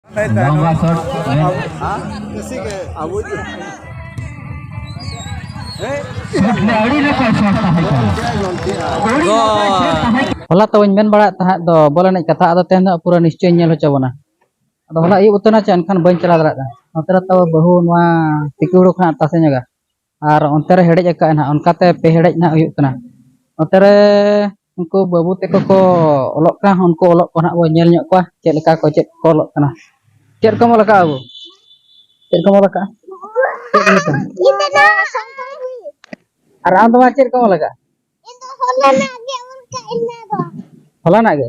लंबा शॉट ᱦᱚᱞᱟ ᱛᱚ ᱵᱟᱹᱧ ᱢᱮᱱ ᱵᱟᱲᱟᱭᱮᱫ ᱛᱟᱦᱮᱸᱫ ᱫᱚ ᱵᱚᱞ ᱮᱱᱮᱡ ᱠᱟᱛᱷᱟ ᱟᱫᱚ ᱛᱮᱦᱮᱧ ᱫᱚ ᱯᱩᱨᱟᱹ ᱱᱤᱥᱪᱚᱭ ᱧᱮᱞ ᱦᱚᱪᱚ ᱵᱚᱱᱟ ᱟᱫᱚ ᱦᱚᱞᱟ ᱟᱹᱭᱩᱵ ᱩᱛᱟᱹᱨ ᱱᱟ ᱪᱮ ᱮᱱᱠᱷᱟᱱ ᱵᱟᱹᱧ ᱪᱟᱞᱟᱣ ᱫᱟᱲᱮᱭᱟᱜ ᱠᱟᱱᱟ ᱱᱚᱛᱮ ᱨᱮ ᱛᱚ ᱵᱟᱹᱦᱩ ᱱᱚᱣᱟ ᱛᱤᱠᱤ ᱦᱩᱲᱩ ᱠᱷᱚᱱᱟᱜ ᱛᱟᱥᱮ ᱧᱚᱜᱟ ᱟᱨ ᱚᱱᱛᱮ ᱨᱮ ᱦᱮᱰᱮᱡ ᱟᱠᱟᱫ ᱱᱟᱦᱟᱜ ᱚᱱᱠᱟᱛᱮ ᱯᱮ ᱦᱮᱰᱮᱡ ᱱᱟᱦᱟᱜ ᱦᱩᱭᱩᱜ ᱠᱟᱱᱟ ᱚᱱᱛᱮ ᱨᱮ ᱩᱱᱠᱩ ᱵᱟᱹᱵᱩ ᱛᱟᱠᱚ ᱠᱚ ᱚᱞᱚᱜ ᱠᱟᱱ ᱩᱱᱠᱩ ᱚᱞᱚᱜ ᱠᱚ ᱱᱟᱦᱟᱜ ᱵᱚᱱ ᱧᱮᱞ ᱧᱚᱜ ᱠᱚᱣᱟ ᱪᱮᱫ ᱞᱮᱠᱟ ᱠᱚ ᱪᱮᱫ ᱠᱚ ᱚᱞᱚᱜ ᱠᱟᱱᱟ ᱪᱮᱫ ᱠᱚᱢ ᱚᱞ ᱟᱠᱟᱫᱼᱟ ᱵᱟᱹᱵᱩ ᱪᱮᱫ ᱠᱚᱢ ᱚᱞ ᱟᱠᱟᱫᱼᱟ ᱪᱮᱫ ᱚᱞ ᱟᱠᱟᱫᱼᱟ ᱟᱨ ᱟᱢ ᱫᱚ ᱢᱟ ᱪᱮᱫ ᱠᱚᱢ ᱚᱞ ᱟᱠᱟᱫᱼᱟ ᱦᱚᱞᱟᱱᱟᱜ ᱜᱮ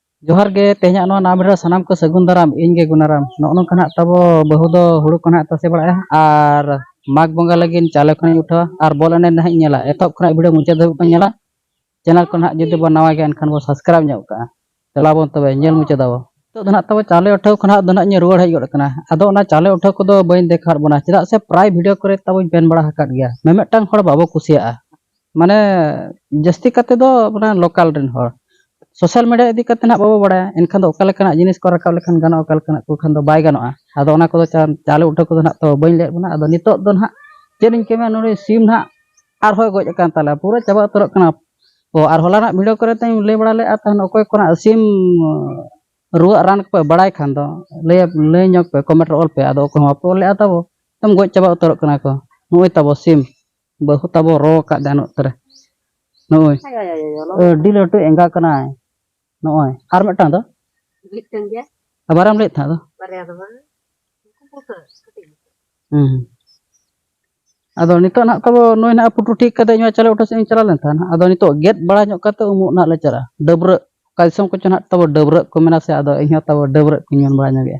ᱡᱚᱦᱟᱨ ᱜᱮ ᱛᱮᱦᱮᱧᱟᱜ ᱱᱚᱣᱟ ᱱᱟᱣᱟ ᱵᱷᱤᱰᱤᱭᱳ ᱥᱟᱱᱟᱢ ᱠᱚ ᱥᱟᱹᱜᱩᱱ ᱫᱟᱨᱟᱢ ᱤᱧ ᱜᱮ ᱜᱩᱱᱟᱨᱟᱢ ᱱᱚᱜᱼᱚ ᱱᱚᱝᱠᱟ ᱱᱟᱜ ᱛᱟᱵᱚ ᱵᱟᱹᱦᱩ ᱫᱚ ᱦᱩᱲᱩ ᱠᱚ ᱱᱟᱜ ᱛᱟᱥᱮ ᱵᱟᱲᱟᱭᱟ ᱟᱨ ᱢᱟᱜᱽ ᱵᱚᱸᱜᱟ ᱞᱟᱹᱜᱤᱫ ᱪᱟᱣᱞᱮ ᱠᱷᱚᱱᱤᱧ ᱩᱴᱷᱟᱹᱣᱟ ᱟᱨ ᱵᱚᱞ ᱮᱱᱮᱡ ᱱᱟᱦᱟᱜ ᱤᱧ ᱧᱮᱞᱟ ᱮᱛᱚᱦᱚᱵ ᱠᱷᱚᱱᱟᱜ ᱵᱷᱤᱰᱤᱭᱳ ᱢᱩᱪᱟᱹᱫ ᱫᱷᱟᱹᱵᱤᱡ ᱵᱚᱱ ᱧᱮᱞᱟ ᱪᱮᱱᱮᱞ ᱠᱚ ᱱᱟᱦᱟᱜ ᱡᱩᱫᱤ ᱵᱚᱱ ᱱᱟᱣᱟ ᱜᱮᱭᱟ ᱮᱱᱠᱷᱟᱱ ᱵᱚᱱ ᱥᱟᱵᱥᱠᱨᱟᱭᱤᱵᱽ ᱧᱚᱜ ᱠᱟᱜᱼᱟ ᱪᱟᱞᱟᱣ ᱵᱚᱱ ᱛᱚᱵᱮ ᱧᱮᱞ ᱢᱩᱪᱟᱹᱫ ᱟᱵᱚ ᱱᱤᱛᱚᱜ ᱫᱚ ᱱᱟᱦᱟᱜ ᱛᱟᱵᱚ ᱪᱟᱣᱞᱮ ᱩᱴᱷᱟᱹᱣ ᱠᱷᱚᱱᱟᱜ ᱫᱚ ᱱᱟᱦᱟᱜ ᱤᱧ ᱨᱩᱣᱟᱹᱲ ᱦᱮᱡ ᱜᱚᱫ ᱟᱠᱟᱱᱟ ᱟᱫᱚ ᱚᱱᱟ ᱪᱟᱣᱞᱮ ᱩᱴᱷᱟᱹᱣ ᱠᱚᱫᱚ ᱵᱟᱹᱧ ᱫᱮᱠᱷᱟᱣᱟᱫ ᱵᱚᱱᱟ ᱪᱮᱫᱟᱜ ᱥᱮ ᱯᱨᱟᱭ ᱵᱷᱤᱰᱤᱭᱳ ᱠᱚᱨᱮ ᱛᱟᱵᱚᱧ ᱢᱮᱱ ᱵᱟᱲᱟ ᱟᱠᱟᱫ ᱜᱮᱭᱟ ᱢᱤᱢᱤᱫᱴᱟᱝ ᱦᱚᱲ ᱵᱟᱵᱚ ᱠᱩᱥᱤᱭᱟᱜᱼᱟ ᱢᱟᱱᱮ ᱡᱟᱹᱥᱛᱤ ᱠᱟᱛᱮ ᱫᱚ ᱢᱟᱱᱮ ᱞᱳᱠᱟᱞ ᱨᱮᱱ ᱦᱚᱲ ᱥᱳᱥᱟᱞ ᱢᱤᱰᱤᱭᱟ ᱤᱫᱤ ᱠᱟᱛᱮ ᱱᱟᱜ ᱵᱟᱵᱚ ᱵᱟᱲᱟᱭᱟ ᱮᱱᱠᱷᱟᱱ ᱫᱚ ᱚᱠᱟ ᱞᱮᱠᱟᱱᱟᱜ ᱡᱤᱱᱤᱥ ᱠᱚ ᱨᱟᱠᱟᱵ ᱞᱮᱠᱷᱟᱱ ᱜᱟᱱᱚᱜᱼᱟ ᱚᱠᱟ ᱞᱮᱠᱟᱱᱟᱜ ᱠᱚ ᱠᱷᱟᱱ ᱫᱚ ᱵᱟᱭ ᱜᱟᱱᱚᱜᱼᱟ ᱟᱫᱚ ᱚᱱᱟ ᱠᱚᱫᱚ ᱪᱟᱣᱞᱮ ᱩᱴᱷᱟᱹᱣ ᱠᱚᱫᱚ ᱱᱟᱜ ᱛᱚ ᱵᱟᱹᱧ ᱞᱟᱹᱭᱟᱫ ᱵᱚᱱᱟ ᱟᱫᱚ ᱱᱤᱛᱚᱜ ᱫᱚ ᱱᱟᱜ ᱪᱮᱫ ᱤᱧ ᱠᱟᱹᱢᱤᱭᱟ ᱱᱩᱭ ᱥᱤᱢ ᱱᱟᱜ ᱟᱨᱦᱚᱸᱭ ᱜᱚᱡ ᱟᱠᱟᱱ ᱛᱟᱞᱮᱭᱟ ᱯᱩᱨᱟᱹ ᱪᱟᱵᱟ ᱩᱛᱟᱹᱨᱚᱜ ᱠᱟᱱᱟ ᱚ ᱟᱨ ᱦᱚᱞᱟᱱᱟᱜ ᱵᱷᱤᱰᱤᱭᱳ ᱠᱚᱨᱮ ᱛᱮᱧ ᱞᱟᱹᱭ ᱵᱟᱲᱟ ᱞᱮᱫᱼᱟ ᱛᱟᱦᱮᱱ ᱚᱠᱚᱭ ᱠᱚᱱᱟᱜ ᱥᱤᱢ ᱨᱩᱣᱟᱹᱜ ᱨᱟᱱ ᱠᱚᱯᱮ ᱵᱟᱲᱟᱭ ᱠᱷᱟᱱ ᱫᱚ ᱞᱟᱹᱭ ᱞᱟᱹᱭ ᱧᱚᱜᱽ ᱯᱮ ᱠᱚᱢᱮᱱᱴ ᱨᱮ ᱚᱞ ᱯᱮ ᱟᱫᱚ ᱚᱠᱚᱭ ᱦᱚᱸ ᱵᱟᱯᱮ ᱚᱞ ᱞᱮᱫᱼᱟ ᱛᱟᱵᱚ ᱮᱠᱫᱚᱢ ᱜᱚᱡ ᱪᱟᱵᱟ ᱩᱛᱟᱹᱨᱚᱜ ᱠᱟᱱᱟ ᱠᱚ ᱱᱚᱜᱼᱚᱭ ᱛᱟᱵᱚ ᱥᱤᱢ ᱵᱟᱹᱦᱩ ᱛᱟᱵᱚ ᱨᱚ ᱟᱠᱟᱫ ᱡᱟᱦᱟᱱ ᱚᱠᱛᱚ ᱨᱮ ᱱᱚᱜᱼᱚᱭ ᱟᱹᱰᱤ ᱞᱟᱹᱴᱩ ᱮᱸᱜᱟ ᱠᱟᱱᱟᱭ ᱱᱚᱜᱼᱚᱭ ᱟᱨ ᱢᱤᱫᱴᱟᱝ ᱫᱚ ᱟᱵᱟᱨᱮᱢ ᱞᱟᱹᱭᱮᱫ ᱛᱟᱦᱮᱸᱫ ᱫᱚ ᱦᱮᱸ ᱟᱫᱚ ᱱᱤᱛᱚᱜ ᱱᱟᱜ ᱛᱟᱵᱚ ᱱᱩᱭ ᱱᱟᱜ ᱯᱩᱴᱩ ᱴᱷᱤᱠ ᱠᱟᱛᱮ ᱤᱧ ᱪᱟᱞᱟᱣ ᱚᱴᱚ ᱥᱮᱫ ᱤᱧ ᱪᱟᱞᱟᱣ ᱞᱮᱱ ᱛᱟᱦᱮᱱᱟ ᱟᱫᱚ ᱱᱤᱛᱚᱜ ᱜᱮᱫ ᱵᱟᱲᱟ ᱧᱚᱜ ᱠᱟᱛᱮ ᱩᱢᱩᱜ ᱱᱟᱜ ᱞᱮ ᱪᱟᱞᱟᱜᱼᱟ ᱰᱟᱹᱵᱽᱨᱟᱹᱜ ᱚᱠᱟ ᱫᱤᱥᱚᱢ ᱠᱚᱪᱚ ᱱᱟᱜ ᱛᱟᱵᱚ ᱰᱟᱹᱵᱽᱨᱟᱹᱜ ᱠᱚ ᱢᱮᱱᱟ ᱥᱮ ᱟᱫᱚ ᱤᱧᱦᱚᱸ ᱛᱟᱵᱚ ᱰᱟᱹᱵᱽᱨᱟᱹᱜ ᱠᱚᱧ ᱢᱮᱱ ᱵᱟᱲᱟ ᱧᱚᱜᱮᱜᱼᱟ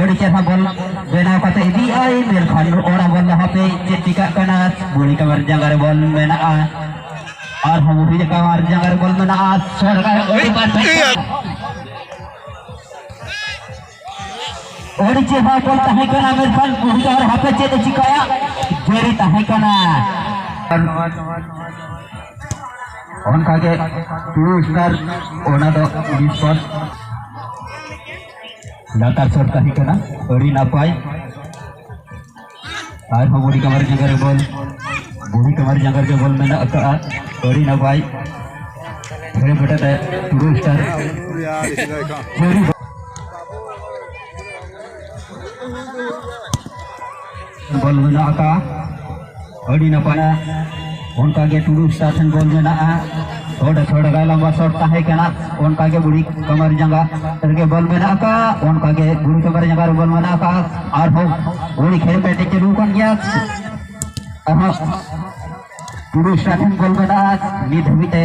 ᱟᱹᱰᱤ ᱪᱮᱦᱨᱟ ᱵᱚᱞ ᱵᱮᱱᱟᱣ ᱠᱟᱛᱮ ᱤᱫᱤᱭᱟᱭ ᱢᱮᱱᱠᱷᱟᱱ ᱚᱲᱟᱜ ᱵᱚᱞ ᱦᱟᱯᱮ ᱪᱮᱫ ᱪᱤᱠᱟᱹᱜ ᱠᱟᱱᱟ ᱵᱩᱲᱤ ᱠᱟᱢᱟᱨ ᱡᱟᱸᱜᱟ ᱨᱮ ᱵᱚᱞ ᱢᱮᱱᱟᱜᱼᱟ ᱟᱨ ᱦᱚᱸ ᱵᱩᱲᱤ ᱠᱟᱢᱟᱨ ᱡᱟᱸᱜᱟ ᱨᱮ ᱵᱚᱞ ᱢᱮᱱᱟᱜᱼᱟ ᱥᱚᱨᱠᱟᱨ ᱟᱹᱰᱤ ᱵᱟᱨ ᱟᱹᱰᱤ ᱪᱮᱦᱨᱟ ᱵᱚᱞ ᱛᱟᱦᱮᱸ ᱠᱟᱱᱟ ᱢᱮᱱᱠᱷᱟᱱ ᱵᱩᱲᱤ ᱠᱟᱢᱟᱨ ᱦᱟᱯᱮ ᱪᱮᱫ ᱮ ᱪᱤᱠᱟᱹᱭᱟ ᱡᱟᱹᱨᱤ ᱛᱟᱦᱮᱸ ᱠᱟᱱᱟ ᱚᱱᱠᱟᱜᱮ ᱴᱩ ᱥᱴᱟᱨ ᱚᱱᱟ ᱫᱚ ᱵᱤᱥᱯᱚᱫ ᱞᱟᱛᱟᱨ ᱥᱚᱴ ᱛᱟᱦᱮᱸ ᱠᱟᱱᱟ ᱟᱹᱰᱤ ᱱᱟᱯᱟᱭ ᱟᱨᱦᱚᱸ ᱵᱩᱲᱦᱤ ᱠᱟᱢᱟᱨ ᱡᱟᱸᱜᱟ ᱨᱮ ᱵᱚᱞ ᱵᱩᱲᱦᱤ ᱠᱟᱢᱟᱨ ᱡᱟᱸᱜᱟ ᱨᱮ ᱵᱚᱞ ᱢᱮᱱᱟᱜ ᱟᱠᱟᱫᱼᱟ ᱟᱹᱰᱤ ᱱᱟᱯᱟᱭ ᱦᱮᱲᱮ ᱵᱮᱴᱟ ᱛᱮ ᱴᱩᱰᱩ ᱥᱴᱟᱨ ᱪᱟᱹᱨᱤ ᱵᱚᱞ ᱢᱮᱱᱟᱜ ᱟᱠᱟᱫᱼᱟ ᱟᱹᱰᱤ ᱱᱟᱯᱟᱭᱟ ᱚᱱᱠᱟᱜᱮ ᱴᱩᱰᱩ ᱥᱴᱟᱨ ᱴᱷᱮᱱ ᱵᱚᱞ ᱢᱮᱱᱟᱜᱼᱟ ᱥᱚᱴ ᱥᱚᱴ ᱜᱟᱭ ᱞᱟᱢᱵᱟ ᱥᱚᱴ ᱛᱟᱦᱮᱸ ᱠᱟᱱᱟ ᱚᱱᱠᱟᱜᱮ ᱵᱩᱲᱦᱤ ᱠᱟᱢᱟᱨ ᱡᱟᱸᱜᱟ ᱨᱮᱜᱮ ᱵᱚᱞ ᱢᱮᱱᱟᱜ ᱟᱠᱟᱫᱼᱟ ᱚᱱᱠᱟᱜᱮ ᱵᱩᱲᱦᱤ ᱠᱟᱢᱟᱨ ᱡᱟᱸᱜᱟ ᱨᱮ ᱵᱚᱞ ᱢᱮᱱᱟᱜ ᱟᱠᱟᱫᱼᱟ ᱟᱨᱦᱚᱸ ᱩᱱᱤ ᱠᱷᱮᱞ ᱯᱮᱴᱮᱡ ᱪᱟᱹᱞᱩ ᱟᱠᱟᱱ ᱜᱮᱭᱟ ᱟᱨᱦᱚᱸ ᱴᱩᱰᱩ ᱥᱴᱟᱨ ᱴᱷᱮᱱ ᱵᱚᱞ ᱢᱮᱱᱟᱜᱼᱟ ᱱᱤᱛ ᱫᱷᱟᱹᱵᱤᱡ ᱛᱮ